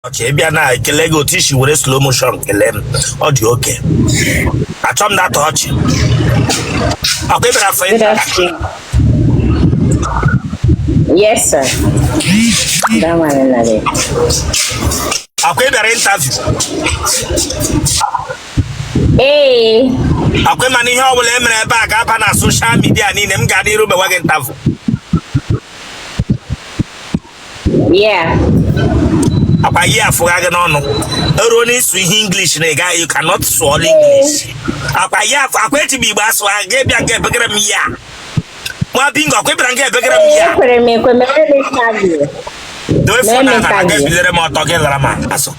okay ị bịa na ekele gị otu i si were slow motion kelee m ọ dị okay achọ m data ọchị ọ kwa ị bịara afọ Good ịta afternoon. Yes, sir. That one another. ọ kwa ị bịara interview Hey, ọ kwa ị ma na ihe ọ bụla e mere ebe a ga-aba na social media niile m ga-adị iru mewa gị interview Yeah. akwa yi afụgha gị n'ọnụ eruo n'ịsụ ihe English na ị gaghị you cannot swallow English akwa yi afụ akwa eji m igbo asụ ha gị bịa nga ebegara m ya nwa bingo ọ kwa ị bịara nga ebegara m ya Ekwere m ekwe mere m interview. dowe phone na Mee m na na gị interview. ebilere m ọtọ gị lara m azụ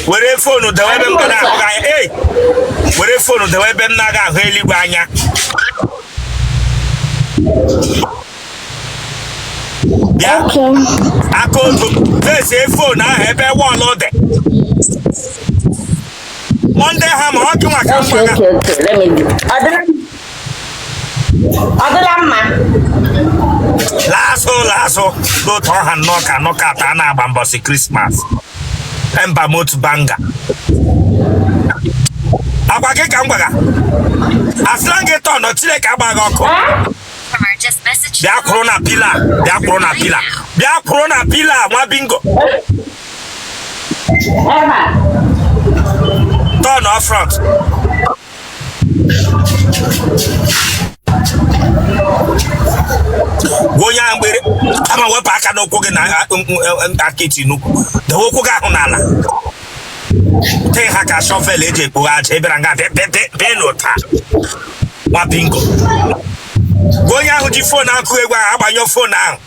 were phone dewe ebe m na-ahụ gị anya ei were phone dewe ebe m na-aga ahụ eluigwe anya bịa aka otu face phone ahụ ebe wall dị Monday hammer ọ gị maka mgbaga ọ dịla mma laa azụ laa azụ otu ọ ha nnọọ ka knockout a na-agba mbọsị Christmas ember month banger agwa gị ka m gwaga asịla m gị turn ọ chineke agbaa gị ọkụ bịa kwụrụ na pillar bịa kwụrụ na pillar bịa kwụrụ na pillar nwa bingo turn off front gwa onye ahụ mgbere ama wepụ aka n'ụkwụ gị na aka i ti n'ukwu dewe ụkwụ gị ahụ n'ala tee ha ka shovel e ji ekpoghe aja ị bịara nga bịa n'ụta nwa bingo gwa onye ahụ ji phone akụ egwu ahụ agbanyụ phone ahụ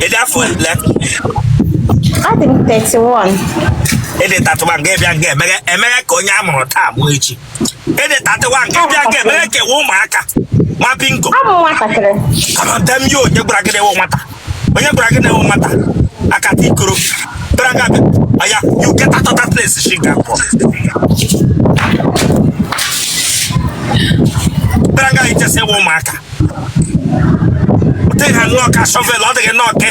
Ị dị afọ ole? adị m 31 Ị dị 31 gị bịa nga emeghe ka onye a mụrụ taa mụọ echi. ị dị 31 gị bịa nga eme ka ị wụ ụmụaka nwa bingo amata m ya onye gwara gị na ị wụ nwata onye gwara gị na ị wụ nwata akata ikoro bịara nga bịa ọya you get out of that place shi nga pụọ bịara nga i che sị ị wụ ụmụaka otu ị ha nnọọ ka shovel ọ dịghị nnọọ ke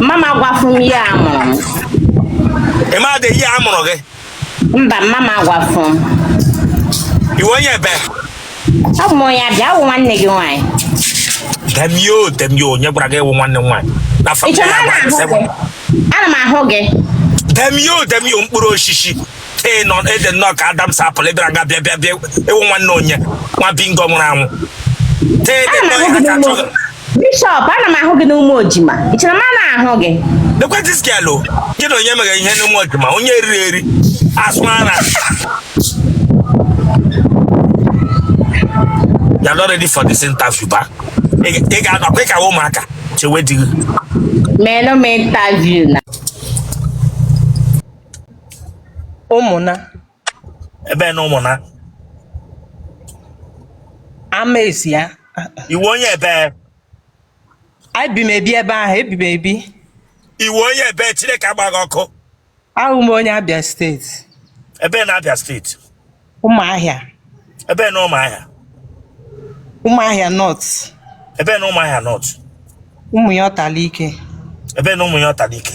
mama gwafụ m year a mụrụ m ị madị year a mụrụ gị mba mama gwafụ m ị wụ onye ebee abụ m onye abịa abụ m nwanne gị nwaanyị damn you damn you onye gwara gị ị wụ nwanne m nwaanyị na ị family chọrọ ya na gwara ana m ahụ gị damn you damn you mkpụrụ osisi ee nọ ị dị nnọọ ka adam's apple ị bịara nga bịa bịa bịa ị wụ nwanne onye nwa bingo nwụrụ anwụ tee ede ana m nnọọ ahụ ya gị ka n'ime chọrọ Bishop, ana m ahụ gị n'Ụmụojima. Ị chere m ana ahụ gị? Lekwa this girl o. Gị na onye mere ihe n'Ụmụojima, onye eriri eri, asụ ara. You are not ready for this interview, ba. Ị ga-adọkwa ịkawa ụmụaka chewe di gị. Meenụ m interview na. Ụmụna. ebee na ụmụna ama esi ya ị wụ onye ebee ebi m ebi ebe ahụ ebi m ebi ị wụ onye ebee chineke agba gị ọkụ awụ m onye abịa state ebee na abịa state ụmụahịa ebee na ụmụahịa ụmụahịa north ebee na ụmụahịa north ụmụyọta alaike ebee na ụmụyọta alaike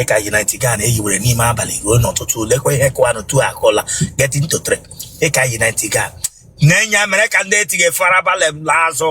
ị ka yi nightgown a i yiwere n'ime abalị ruo n'ọtụtụ lekwa ihe kụwanụ two akụla getting to three ị ka yi nightgown a i yi mere ka ndị etighi fara balị m n'azụ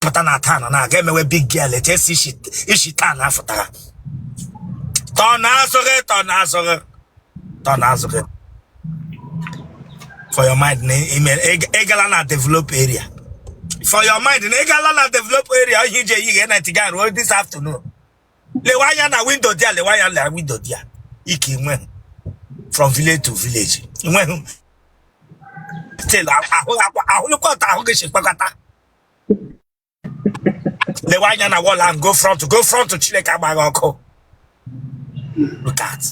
pụta na taa na na-aga emewe big girl etu esi isi isi taa na afụtara tọ n'azụ gị tọ n'azụ gị tọ n'azụ gị for your mind na ime ị- ị gala na develop area for your mind na ị gala na develop area ihe i ji eyiga nightgown ruo this afternoon lewe anya na window there lewe anya na window there ike i nweghị from village to village i nweghị still ahụ ahụlụkwa otu ahụ gị si kpakọta lewe anya na wall ahụ go front go front chineke agba gị ọkụ look at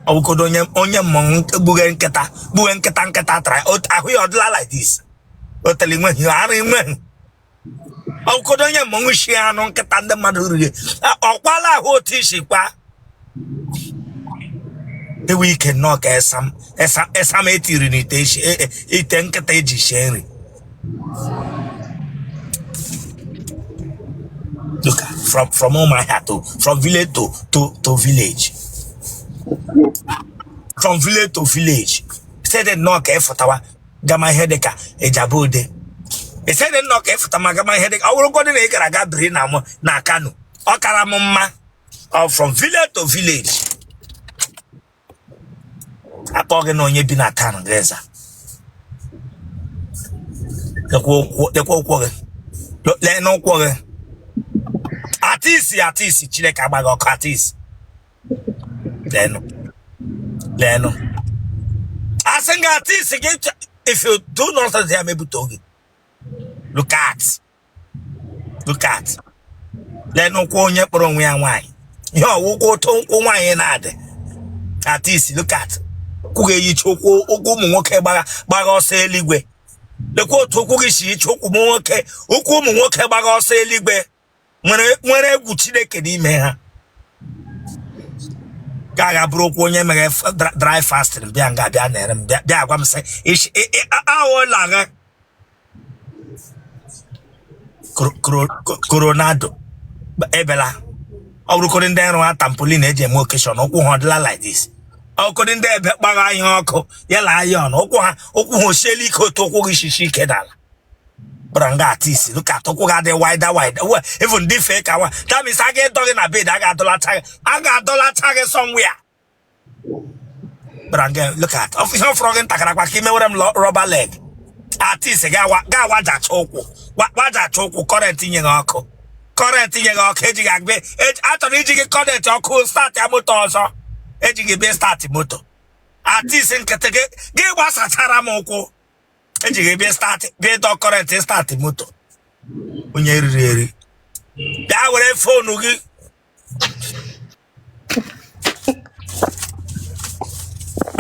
ọwụkodo onye onye mmọnwụ gbughe nkịta gbughe nkịta nkịta tara ahụ ya ọ dịla like this otele nweghị ara nweghị ọkụkọdo onye mmọnwụ shi anụ nkịta ndị mmadụ riri ọkwala ahụ otu i si kwa ewu ike nnọọ ka esam esam esam etiri n'ite isi- e- e- ite nkịta e ji sie nri Look at from from Umuahia to from village to to to village from village to village site nnọọ ka efụtawa gama ihe dịka Ijebu Ode ị sịrị nnọọ ka ị fụtama gama ihe dịka ọ bụrụgodị na ị gara aga biri na mụ na kano ọ kara m mma ọ from village to village akpọ gị na onye bi na town gị aza lekwa ụkwụ- lekwa ụkwụ gị Lo- leenụ ụkwụ gị artist artist chineke agba gị ọkụ artist leenụ leenụ asị m gị artist gị chọ- if you do nonsense ya mebute oge look at look at leenụ ụkwụ onye kpọrọ onwe ya nwaanyị ihe ọ wụkwa otu ụkwụ nwaanyị na-adị artist look at ụkwụ gị eyicha ụkwụ ụkwụ ụmụ nwoke gbagha gbagha ọsọ eluigwe lekwa otu ụkwụ gị si iche ụkwụ ụmụ nwoke ụkwụ ụmụ nwoke gbagha ọsọ eluigwe nwere nwere egwu chineke n'ime ha ga aga bụrụ ụkwụ onye mere f- dra- dry fasting bịa nga bịa nere m bịa bịa agwa m sị "Ish, ị- ị- a- aghọọla agha Coro- coro- co- coronado ebela ọ bụrụkọrị ndị nrụ ha tampolin eji eme occasion ụkwụ ha ọ dịla like this ọkụrị ndị ebe kpara ihe ọkụ ya la iron ụkwụ ha ụkwụ ha osiela ike otu ụkwụ gị shishi ike n'ala bịara nga artist look at ụkwụ gị adị wider wider well even dị fee ka nwa that means a ga-edọ gị na bed a ga-adọlacha gị a ga-adọlacha gị somewhere bịara nga look at ọ ihe ọ fọrọ gị ntakara kwa ka ị mewere m lọ- rubber leg artist ga-awa- ga-awajacha ụkwụ wa- wajacha ụkwụ current nye gị ọkụ current nye gị ọkụ eji gị agbe eji- achọrọ iji gị current ọkụ start ya moto ọzọ eji gị bịa start moto artist nkịtị gị gị gbasachara m ụkwụ eji gị bịa start bịa dọ current start moto onye riri eri bịa were phone gị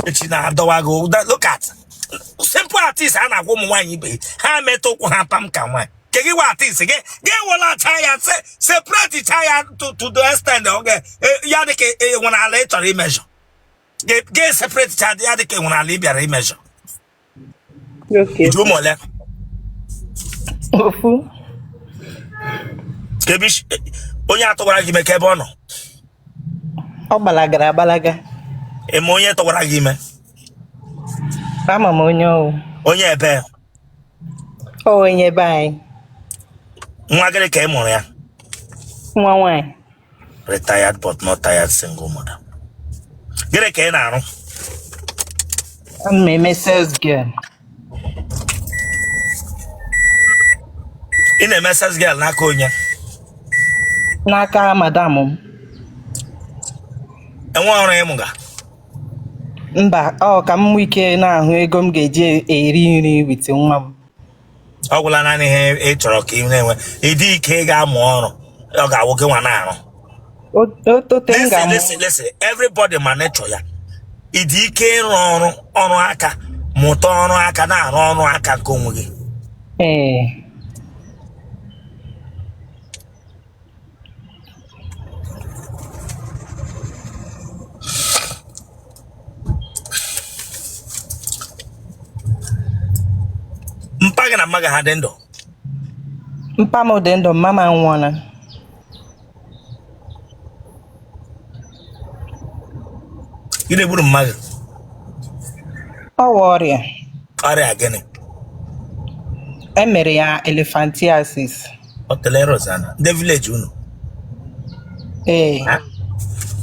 echi na-adọwa gị ụda look at simple artist a na-agwa ụmụ nwaanyị ibe ha metụ ụkwụ ha pam ka nwaanyị ke gị wa artist gị gị welacha ya se separate cha ya to to the extent ọ ga e- ya dị ka enwere ala ị chọrọ i measure gị separate cha ya dị ka enwere ala ị bịara i measure Okay. I ji ụmụ ole? Ofu. Ka ebe isi- onye a tụwara gị ime ka ebe ọ nọ. Ọ gbalagara agbalaga. Ị ma onye tụwara gị ime. Ama m onye ọ wụ. Onye ebe Ọ onye be anyị. nwa gịrị ka ị mụrụ ya. Nwa nwaanyị. retired but not tired single mother gịnị ka ị na-arụ ana m eme sales girl ị na-eme sales girl n'aka onye n'aka madam m enwe ọrụ ị mụga mba ọ ka m nwee ike na-ahụ ego m ga-eji eri nri with nwa m ọ gwụla naanị ihe ị chọrọ ka ị na-enwe ị dị ike ị ga-amụ ọrụ ọ ga-awụ gị nwa na-arụ otote m ga-amụ lesi lesi everybody ma nature ya ị dị ike ịrụ ọrụ ọrụ aka mụta ọrụ aka na-arụ ọrụ aka nke onwe gị ee mpa gị na mma gị ha dị ndụ mpa m dị ndụ mma m anwụọla gịnị gburu mma gị ọ wụ ọrịa ọrịa gịnị e mere ya elephantiasis otele rosana ndị village unu ee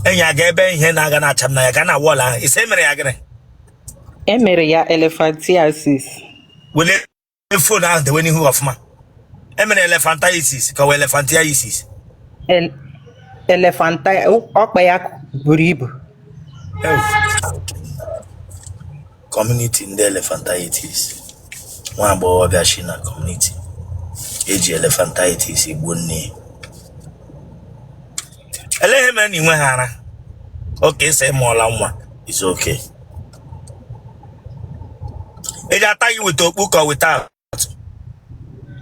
enyi aga ebe ihe na-aga na-acha m n'anya ga na wall ahụ ị sị e mere ya gịnị e mere ya elephantiasis wele phone ahụ dewe n'ihu ọfụma e mere elephantiasis ka ọ wụ elephantiasis El- elefanta ọkpa ya buru ibu community ndị elephantiasis nwa agbọghọbịa si na community e ji elephantiasis gbuo nne ya elee ihe mere na ị nweghị ara okay ị sị ị mụọla nwa is okay E ji ata gị with okpu ka without.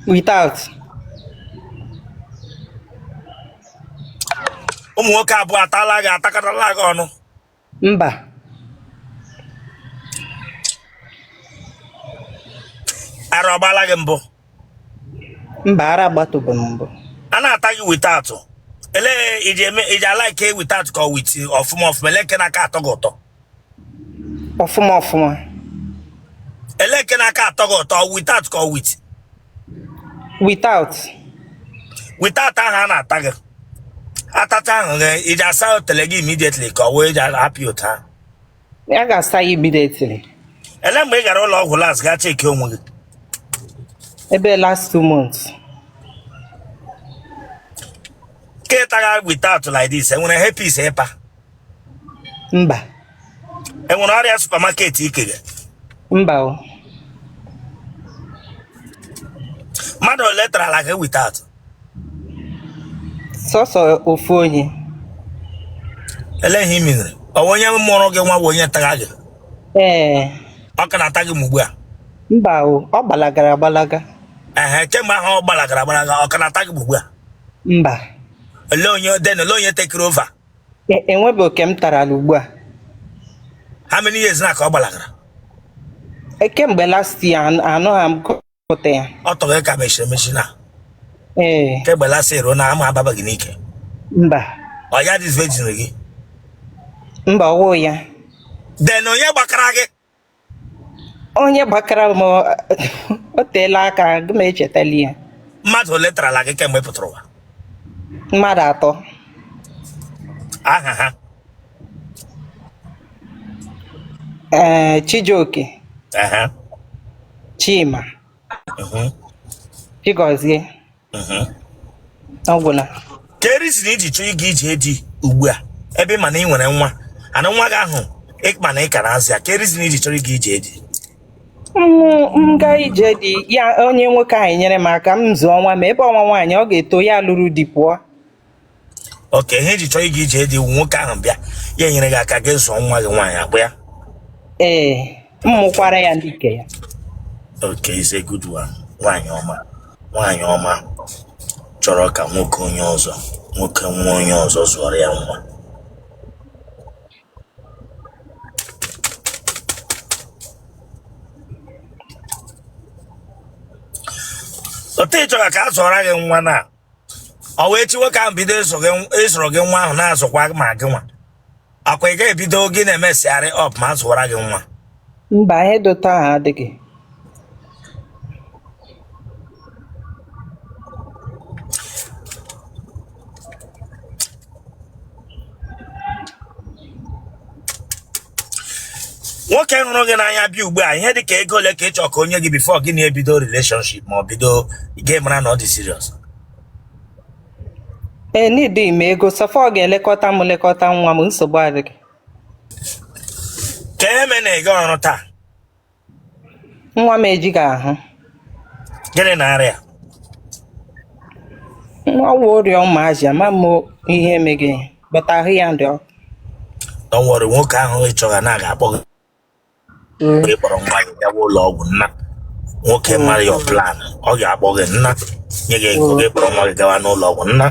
Without. Ụmụ nwoke abụọ atala gị atakọtala gị ọnụ. Mba. Ara ọ gbala gị mbụ. mba ara agbatubu m mbụ a na-ata gị without elee ị ji eme ị ji ala ike without ka with ọfụma ọfụma elee nke na-aka atọ gị ụtọ ọfụma ọfụma elee nke na-aka atọ gị ụtọ without ka with without without ahụ a na-ata gị atacha ahụ gị ị ji asa otele gị immediately ka ọ wụ e ji apịpụta ya ga-asa ya immediately elee mgbe ị gara ụlọ ọgwụ last gaa cheki onwe gị ebe last two months ka ị taga without like this e nwere herpes ị pa mba e nwere ọrịa supermarket ikere mba o mmadụ ole tarala gị without sọsọ ofu onye ele ihe mere ọ wụ onye mụrụ gị nwa bụ onye tara gị ee ọ ka na-ata gị ugbu a mba o ọ gbalagara agbalaga ehe kemgbe ahụ ọ gbalagara agbalaga ọ ka na-ata gị ugbu a mba olee onye then olee onye tekiri over e- enwebe nke m tarala ugbu a how many years now ka ọ gbalagara E, kemgbe last year anụha m pụta ya ọ tọrọ ya ka mechiri emechi na ee kemgbe last year ruo now amụ ababa gị n'ike mba ọ ya disvirgin gị mba ọ wụ ya then onye gbakara gị onye gbakara m ọ- o teela aka agaghị m echetali ya mmadụ ole tarala gị kemgbe ị pụtara ụwa mmadụ atọ aha ha ee eh, Chijioke Chima Chigozie ọ gwụla kee reason i ji chọọ ịga ije di ugbu a ebe ị ma na ị nwere nwa and nwa gị ahụ ị ma na ị ka na-azụ ya kee reason i ji chọrọ ịga ije di m gaa ije di ya onye nwoke ahụ enyere m aka m zụọ nwa ma ebe ọ nwa nwaanyị ọ ga-eto ya lụrụ di pụọ okay ihe i ji chọọ ịga ije di wụ nwoke ahụ bịa ya enyere gị aka gị zụọ nwa gị nwaanyị ọ kwa ya ee m mụkwara ya ndị nke ya okay is a good one nwaanyị ọma nwaanyị ọma chọrọ ka nwoke onye ọzọ nwoke nwa onye ọzọ zụọrọ ya nwa otu ị chọrọ ka a zụọra gị nwa na ọ wụ echi nwoke ahụ bido ịzụrụ gị nwa ahụ na-azụkwa ma gị nwa ọ kwa ị ga-ebido gị na-emessịgharị up ma a zụwara gị nwa Mba, ihe dị otu ahụ adịghị. nwoke hụrụ gị n'anya bịa ugbu a ihe dị ka ego ole ka ị chọọ ka o nye gị before gị na-ebido relationship ma ọ bido gị mara na ọ dị serious Eneedighị m ego, so far ọ ga-elekọta m lekọta nwa m, nsogbu adịghị. kee ihe mere na ị gaghị ọrụ taa nwa m ejighị ahụ gịnị na-arịa nwa wụ ọrịa ụmụazị ama m ihe emeghị but ahụ ya na-adị ọkụ don't worry nwoke ahụ ị chọrọ now ga-akpọ gị Mm. ị kpọrọ nwa gị gawa ụlọ ọgwụ nna nwoke mara your plan ọ ga-akpọ gị nna nye gị ego gị kpọrọ nwa gị gawa n'ụlọ ọgwụ nna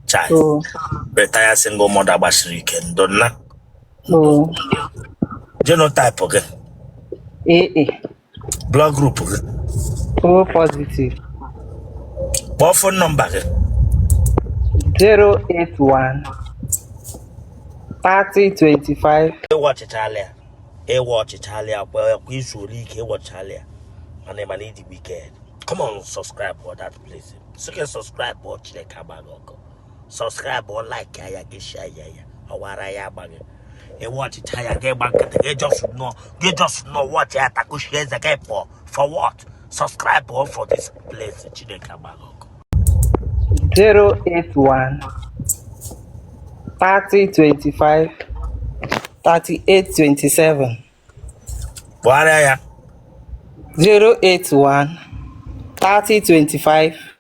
chai Oh, retired single mother gbasiri ike ndo nna oh. genotype gị Eh, eh. blood group gị O positive. kpọọ phone number gị 081 3025 ị watchịchala ya ị watchịchala ya kwa ya kwa i zuole ike ị watchịchala ya mana ị mana ị dị wicked come on subscribe for that place sị gị subscribe or chineke agba gị ọkụ subscribe like ya gị share ya ya or ara ya agba gị ị watchịcha ya gị gba nkịtị gị just nọ gị just nọ watchị ya takushi eze gị pụọ for what subscribe o for this place chineke agba gị ọkụ 081 3025 3827 kpọgharịa ya 081 3025